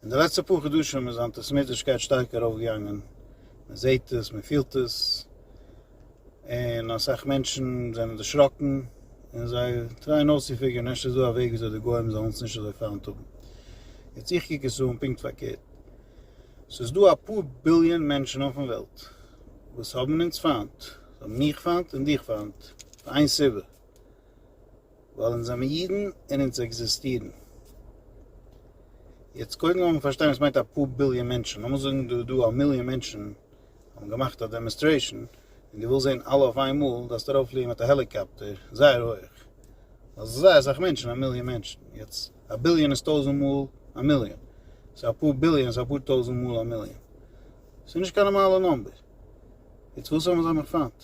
אין די לעצטע פאר חדשים איז אנטיסעמיטישקייט שטארק ארויפגעגאנגען, מען זעט עס, מען פילט עס, און אסאך מענטשן זענען דערשראקן, און זיי טרייען אויסצופיגערן אפשר איז דא א וועג וויאזוי די גוים זאלן עס נישט אזוי פיינט האבן. יעצט איך קוק עס אן פונקט פארקערט, ס'איז דא אפאר ביליאן מענטשן אויפן וועלט וואס האבן אונז פיינט, זיי האבן מיך פיינט און דיך פיינט, פאר איין סיבה, ווייל אונז זעמער אידן און אונז עקזיסטירן. יעצט קודם לאמיר פארשטיין וואס מיינט א פאר ביליאן מענטשן, לאמיר זאגן דא איז דא א מיליאן מענטשן האבן געמאכט א דעמאנסטרעישן און דו ווילסט זען אלע אויף איינמאל, דארפסטו ארויפפליען מיט א העליקאפטער זייער הויך, ווייל ס'איז זייער אסאך מענטשן א מיליאן מענטשן, יעצט א ביליאן איז טויזנט מאל א מיליאן, סאו א פאר ביליאן איז אפאר טויזנט מאל א מיליאן, ס'איז נישט קיין נארמאלע נומבער, יעצט וואס האבן זיי נאך פיינט?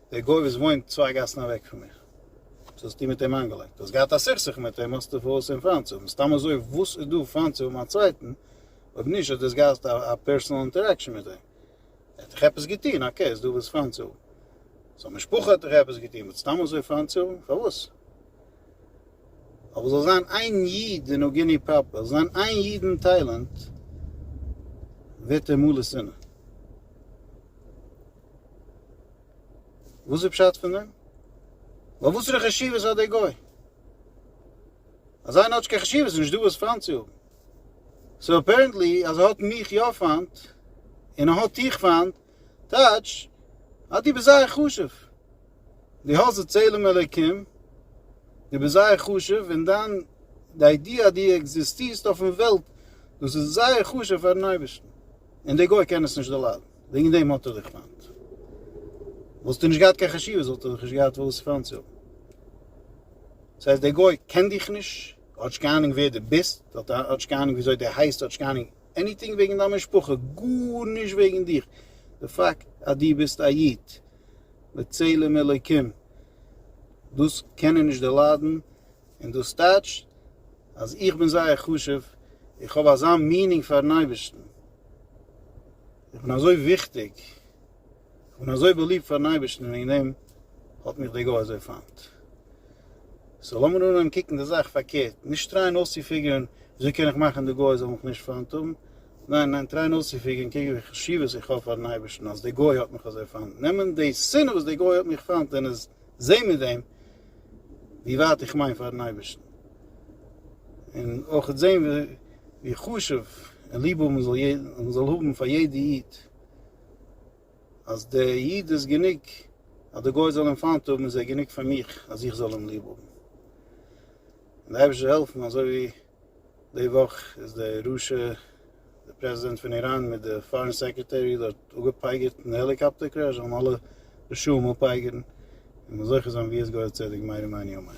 דער גוי וואס וואוינט צוויי גאסן אוועק פון מיך, וואס האסטו מיט אים איינגעלייגט? דו האסט געהאט א סכסוך מיט אים, האסטו פארוואס אים פיינט צו האבן? סתם אזוי וואס איז דא פיינט צו האבן א צווייטן? אויב נישט האט דאס געהאסט א פערסענאל אינטערעקשאן מיט אים. ער האט דיך עפעס געטון, אקעי איז דא וואס פיינט צו האבן. זיין משפחה האט דיך עפעס געטון, באט סתם אזוי פיינט צו האבן? פארוואס? אבער זאל זיין איין איד אין אוגינעי פראפער, זאל זיין איין איד אין טיילענד, ווערט ער מלא שנאה. וואס איז פשט פון דעם? ווייל וואסערע חשיבות האט דער גוי? אז איינער האט נישט קיין חשיבות איז נישט דא וואס פיינט צו האבן. סאו אפערענטלי אז ער האט מיך יא פיינט און ער האט דיך פיינט טייטש אז דו ביסט זייער חשוב. דו האסט די צלם אלוקים, דו ביסט זייער חשוב און דיין די איידיע אז דו עקזיסטירסט אויפן וועלט דאס איז זייער חשוב פארן אייבערשטן און דער גוי קען עס נישט דערליידן. וועגן דעם האט ער דיך פיינט. וואלסטו נישט געהאט קיין חשיבות וואלט ער דיך נישט געהאט וואס פיינט צו האבן. דאס הייסט דער גוי קען דיך נישט, ער האט נישט קיין אהנונג ווער דו ביסט, ער האט נישט קיין אהנונג וויאזוי דו הייסט, ער האט נישט קיין אהנונג עניטינג וועגן דיין משפחה, גארנישט וועגן דיך. די פאקט אז דו ביסט א איד, בצלם אלוקים, דאס קען ער נישט דערליידן, און דאס טייטשט אז איך בין זייער חשוב, איך האב אזא מינינג פאר'ן אייבערשטן. און אזוי וויכטיג, און אזוי באליבט פארן אייבערשטן, און וועגן דעם האט מיך דער גוי אזוי פיינט. סאו לאמיר אנהייבן קוקן די זאך פארקערט, נישט טרייען אויסצופיגערן וויאזוי קען איך מאכן די גוי זאל מיך נישט פיינט האבן, ניין ניין, טרייען אויסצופיגערן קעגן ווי חשיבות איך האב פארן אייבערשטן אז דער גוי האט מיך אזוי פיינט, נעמען די שנאה וואס דער גוי האט מיך פיינט און עס זעהן מיט דעם ווי ווייט איך מיין פארן אייבערשטן, און אויך זעהן ווי חשוב און ליב האבן מען זאל האבן פאר יעדע איד, אז דער איד איז גענוג אז דער גוי זאל אים פיינט האבן איז ער גענוג פאר מיך אז איך זאל אים ליב האבן, און דער אייבערשטער זאל העלפן אזוי ווי. די וואך איז די רשע די פרעזידענט פון איראן מיט די פארען סעקרעטערי דארט אפגעפייגערט אין די העליקאפטער קרעש, זאלן אלע רשעים אפייגערן און זוכה זיין ווי עס געהויערט צדק מהר א מעני ומעני.